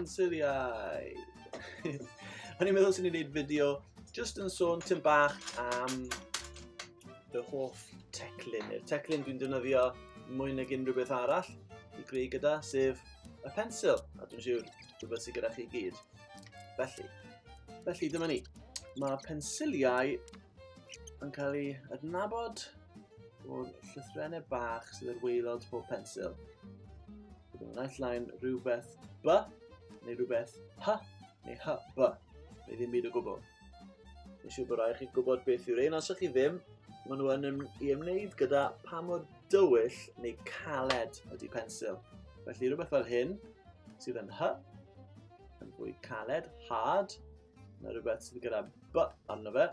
Cynsuriau! O'n i'n meddwl sy'n ni'n gwneud fideo just yn sôn tyn bach am fy hoff teclyn. Yr teclyn dwi'n defnyddio mwy nag unrhyw beth arall i greu gyda, sef y pensil. A dwi'n siŵr rhywbeth sydd gyda chi gyd. Felly, felly dyma ni. Mae pensiliau yn cael ei adnabod o'r llythrennau bach sydd ar weilod pob pensil. Bydd yn naill lain rhywbeth B, neu rhywbeth H, neu H, B, neu ddim byd o gwbl. Dwi'n siŵr bod rhaid chi gwybod beth yw'r un, os ydych chi ddim, maen nhw yn ei ymwneud gyda pa mor dywyll neu caled ydy pensil. Felly rhywbeth fel hyn, sydd yn hy, yn fwy caled, hard, na rhywbeth sydd gyda b arno fe,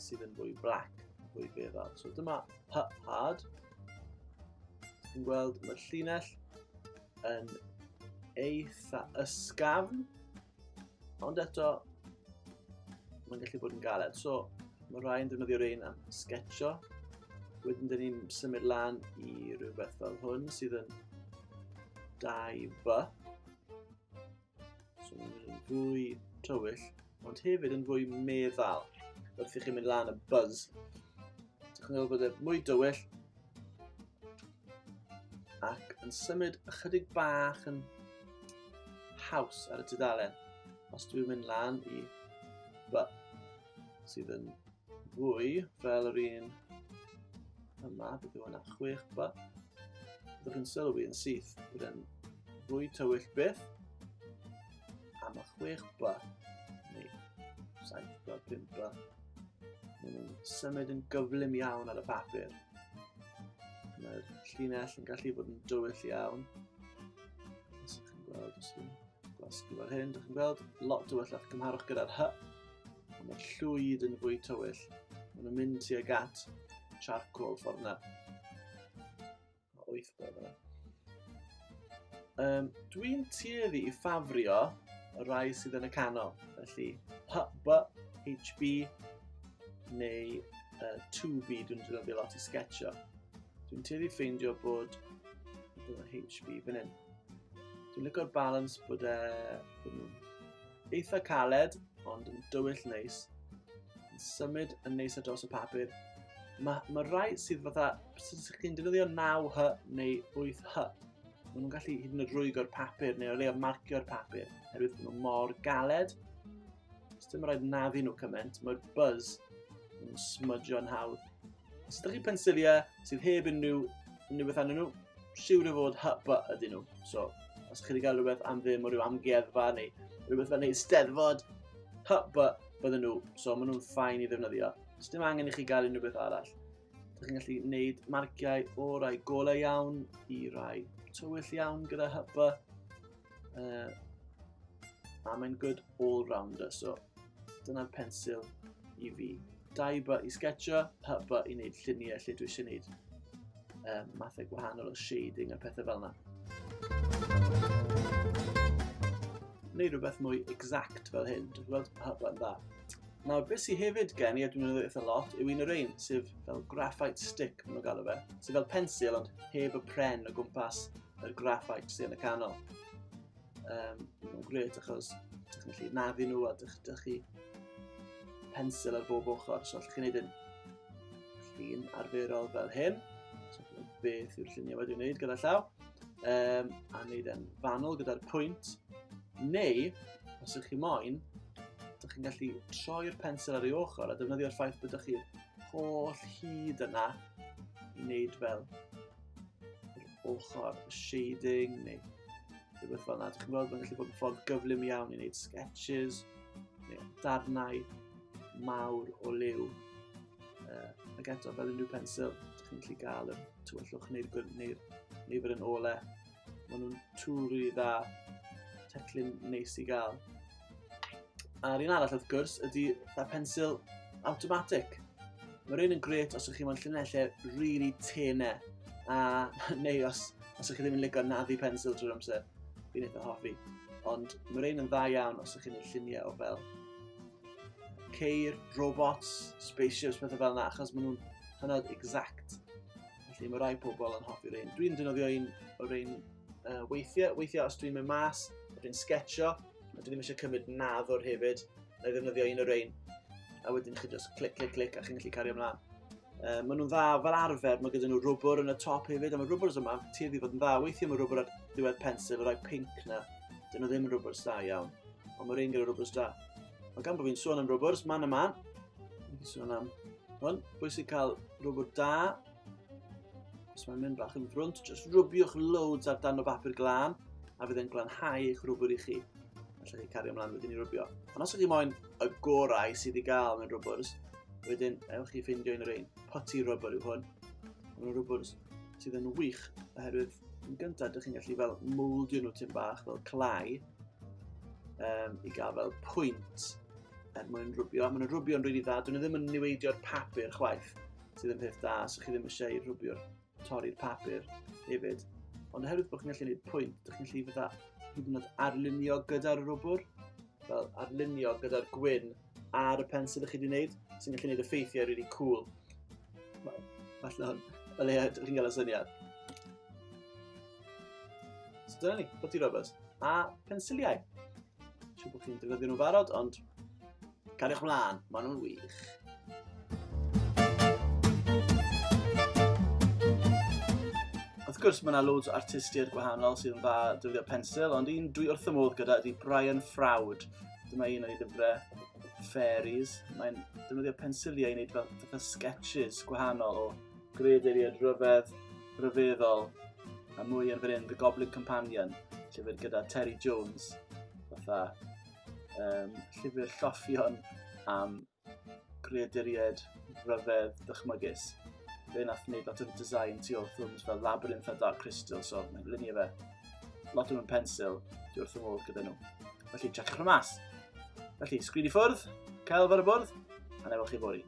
sydd yn fwy black, fwy feddal. So dyma hy, hard. Ti'n gweld, mae'r llinell yn eitha ysgafn, Ond eto, mae'n gallu bod yn galed. So, mae rhai yn defnyddio rhain am sketcho. Wedyn, dyn ni'n symud lan i rhywbeth fel hwn sydd yn 2B. So, mae'n fwy tywyll, ond hefyd yn fwy meddal. Wrth i chi mynd lan y buzz, chi'n gweld bod e mwy dywyll, Ac yn symud ychydig bach yn haws ar y tudalen. Os dwi'n mynd lan i B, sydd yn fwy fel yr un yma, bydd yna 6 B, byddwch chi'n sylwi yn syth, bydd yn fwy tywyll byth, a mae 6 B, neu 7 B, 5 B, Mae nhw'n symud yn gyflym iawn ar y papur. Mae'r llinell yn gallu bod yn dywyll iawn. Os ydych chi'n gweld, os ydych chi'n gwasgu fel hyn, ydych chi'n gweld lot dywyll o'ch cymharwch gyda'r hy. Mae'r llwyd yn fwy tywyll. Mae nhw'n mynd tuag at charcoal ffordd yna. A 8 blynedd yna. Um, Dwi'n tueddu i ffafrio y rai sydd yn y canol. Felly, HB, HB, neu uh, 2B dwi'n defnyddio lot i sketcho. Dwi'n tueddu ffeindio bod HB fan hyn. Dwi'n lygo'r balance bod e... bod nhw'n Eitha caled, ond yn dywyll neis. Yn symud yn neis ar dros y papur. Mae ma rai sydd fatha, sydd ydych chi'n defnyddio 9H neu 8H, maen nhw'n gallu hyd yn oed rwygo'r papur neu o leia marcio'r papur, oherwydd maen nhw mor galed. Os dim rhaid nafu nhw cymaint, mae'r buzz yn smydio'n hawdd. Os ydych chi pensilia sydd heb unrhyw unrhyw beth anyn nhw, siwr o fod hypa ydyn nhw. So, os ydych chi wedi cael rhywbeth am ddim o rhyw amgueddfa neu rhywbeth fel neud steddfod, hypa bydden nhw. So, maen nhw'n ffain i ddefnyddio. Os dim angen i chi gael unrhyw beth arall. Ydych chi'n gallu gwneud marciau o rai golau iawn i rai tywyll iawn gyda hypa. Uh, a mae'n good all-rounder, so dyna'r pensil i fi. Dau ba i sketcho, pa ba i wneud lluniau lle dwi eisiau wneud um, mathau gwahanol o shading a pethau fel yna. Neu rhywbeth mwy exact fel hyn, dwi'n gweld pa ba'n dda. Nawr, beth sydd hefyd gen i, a dwi'n meddwl eitha lot, yw un o'r ein, sef fel graphite stick, maen nhw'n galw fe, sef fel pensil, ond heb y pren o gwmpas y graffite sy'n y canol. Um, mae'n gret achos ydych chi'n gallu nafu nhw a ydych chi pensil ar bob ochr, so allwch chi'n neud yn llun arferol fel hyn. So, beth yw'r lluniau wedi wneud gyda llaw. Um, a wneud yn fanol gyda'r pwynt. Neu, os ydych chi moyn, ydych chi'n gallu troi'r pensil ar ei ochr a defnyddio'r ffaith bod ydych chi'r holl hyd yna i wneud fel ochr y shading neu rhywbeth fel yna. Dwi'n gweld mae'n gallu bod yn ffordd gyflym iawn i wneud sketches neu darnau mawr o liw. Uh, ac eto, fel unrhyw pensil, ydych chi'n gallu gael y tywyllwch neu'r gwyn neu'r nifer yn ole. Maen nhw'n tŵr rili dda, teclyn neis i gael. A'r un arall wrth gwrs ydy fatha pensil automatic. Mae'r un yn gret os ydych chi'n mwyn llunellau rili really tene a neu os, os ydych chi ddim yn licio naddu pensil drwy'r amser. Fi'n eitha hoffi. Ond mae'r un yn dda iawn os ydych chi'n ei lluniau o fel ceir, robots, spaceships, pethau fel yna, achos maen nhw'n hynod exact. Felly mae rai pobl yn hoffi'r un. Dwi'n dynoddio un o'r un Uh, weithiau, weithiau os dwi'n mynd mas, a dwi'n sgetio, a dwi ddim eisiau cymryd nadd o'r hefyd, na i ddefnyddio un o'r ein, a wedyn chi just clic, clic, clic, a chi'n gallu cario ymlaen. Uh, maen nhw'n dda fel arfer, mae gyda nhw rwbr yn y top hefyd, a mae rwbrs yma, ti wedi bod yn dda, weithiau mae rwbr ar ddiwedd pensil, rhoi pink na, dyn nhw ddim yn rwbrs da iawn, ond mae'r ein gyda rwbrs da. Ond gan bod fi'n sôn am rwbrs, man y man, fi'n sôn am hwn, bwysig cael rwbr da, Os mae'n mynd bach yn frwnt, jyst rwbiwch loads ar dan o bapur glân a fydd e'n glanhau eich rwbwr i chi. Alla chi cario ymlaen wedyn i rwbio. Ond os ydych moyn y gorau sydd i gael mewn rwbwrs, wedyn ewch chi ffeindio un o'r ein poti rwbwr yw hwn. Mae'n rwbwrs sydd yn wych oherwydd yn gyntaf ydych chi'n gallu fel mwldio nhw tyn bach fel clai um, i gael fel pwynt er mwyn rwbio. Mae'n rwbio'n rili really dda. Dwi'n ddim yn niweidio'r papur chwaith. sydd yn peth da, so chi ddim eisiau ei rhwbio'r torri'r papur hefyd. Ond oherwydd bod chi'n gallu gwneud pwynt, ydych chi'n gallu fydda hyd yn oed arlunio gyda'r rwbwr, fel arlunio gyda'r gwyn ar y pensil ydych chi wedi gwneud, sy'n gallu gwneud effeithiau rili really cool. Falle hwn, o leia, ydych chi'n cael y syniad. So dyna ni, bod ti Robert, a pensiliau. Siw bod chi'n defnyddio nhw'n barod, ond cariwch mlaen, maen nhw'n wych. Wrth gwrs, mae yna loads o artistiaid gwahanol sydd yn dda defnyddio pensil, ond un dwi wrth y modd gyda ydy Brian Froud. Dyma un o'i lyfrau Fairies. Mae'n defnyddio pensiliau i wneud fel fatha sketches gwahanol o Creaduriaid rhyfedd, rhyfeddol, a mwy yn fan hyn, The Goblin Companion, llyfr gyda Terry Jones, fatha um, llyfr lloffion am creaduriaid rhyfedd dychmygus. Fe nath wneud lot o'r design tu ôl ffilms fel Labyrinth a Dark Crystal, so mae'n lunia fe. Lot o'n pensil, dwi wrth y modd gyda nhw. Felly, chwrdd mas. Felly, sgrin i ffwrdd, cael fel y bwrdd, a nefel chi fori.